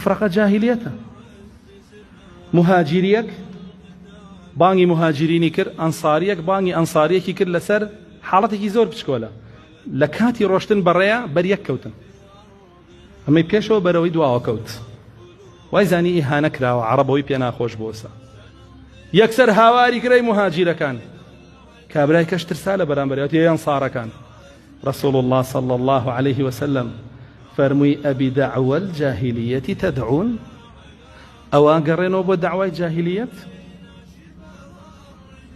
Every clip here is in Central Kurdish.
فرقە جاهیلیەتە مهاجریەک بانگی مهاجرینی کرد ئەنساریەک بانگی ئەنساریەکی کرد لەسەر حاڵەتێکی زۆر بچکۆلە لە کاتی ڕۆشتن بەڕێە بەریەک کەوتن ئەمەی پێشەوە بەرەوەی دواوە کەوت وای زانی ئیهانە کراوە عربەوەی پێ ناخۆش بۆسە یەکسەر هاواری گرەی مهاجیرەکان کابرای کەش ترسا لە بەرامبەر یەوت یە یەنسارەکان رسول اللە صلی اللە علیه وسلم فەرمووی ئەبی دەعوە الجاهلیەتی تدعون ئەوان گەڕێنەوە بۆ داوای جاهلیەت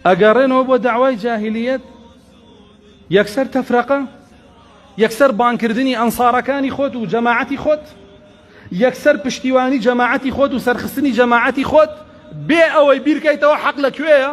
ئەگەڕێنەوە بۆ داوای جاهلیەت یەکسەر تەفرەقە یەکسەر بانکردنی ئەنسارەکانی خۆت و جەماعەتی خۆت یەکسەر پشتیوانی جەماعەتی خۆت و سەرخستنی جەماعەتی خۆت بێ ئەوەی بیرکەیتەوە حەق لە کوێیە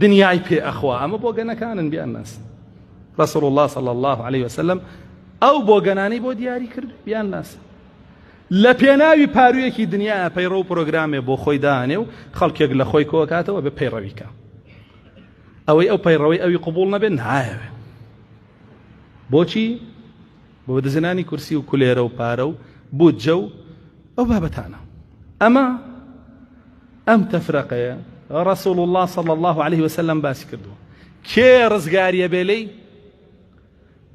دنیای پێ ئەخوا ئەمە بۆگەنەکانن بیان ناسن رسول الله صلی الله عليه وسلم ئەو بۆگەنانی بۆ دیاری کرد بیان ناسن لە پێناوی پارویەکی دنیا پەیڕە و پرۆگرامێ بۆ خۆی دانێ و خەڵکێک لە خۆی کۆکاتەوە بە پەیڕەویکە ئەوەی ئەو پەیڕەوەی ئەوی قوبول نەبێت نایەوێت بۆچی بۆ بەدەستهێنانی کورسی و کولێرە و پارە و بودجە و ئەو بابەتانە ئەمە ئەم تەفرەقەیە ڕسول الله صلی الله عليه وسلم باسی کردووە کێ ڕزگاریە بێ لێی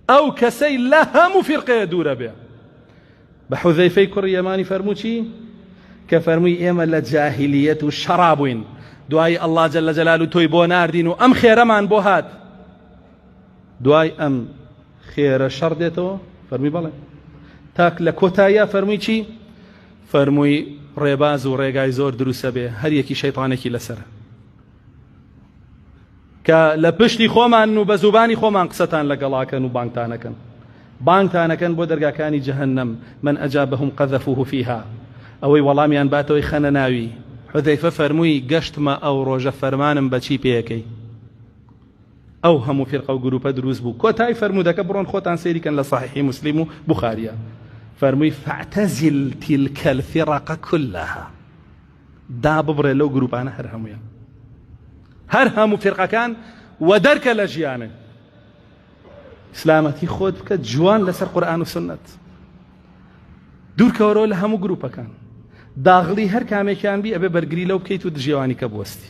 ئەو کەسەی لە هەموو فرقەیە دوورە بێ بە حوزەیفەی کوڕی یەمانی فەرموچی کە فەرمووی ئێمە لە جاهلیەت و شەڕابووین دوایی ئەللا جل لە جەلال و تۆی بۆ ناردین و ئەم خێرەمان بۆ هات دوای ئەم خێرە شەڕ دێتەوە فەرمی بەڵێ تاک لە کۆتاییا فەرمووی چی فەرمووی ڕێباز و ڕێگای زۆر دروسە بێ هەریەکی شەیتانێکی لەسەر کە لە پشتی خۆمان و بە زوبانی خۆمان قسەتان لەگەڵاکەن و بانگتانەکەن بانگتانەکەن بۆ دەرگاکانی جەهنم من ئەجا بەهم قەذەفوه فیها ئەوەی وەڵامیان باتەوەی خەنە ناوی حذەیفە فەرمووی گەشتمە ئەو ڕۆژە فەرمانم بەچی پێەکەی ئەو هەموو فیرقە و گروپە دروست بوو کۆتای فەرموودەکە بڕۆن خۆتان سەیری کەن لە صحیحی موسلیم و بوخاریە فەرمووی فاعتزل تلک الفرق کلها داببڕێ لەو گروپانە هەر هەموویان هەر هەموو فیرقەکان و دەرکە لە ژیانن ئیسلامەتی خۆت بکە جوان لەسەر قورآن و سنت دوورکەوەرەوە لە هەموو گروپەکان داغڵی هەر کامێکیان بی ئەبێ بەرگری لەو بکەیت و دژێوانی کە بوەستی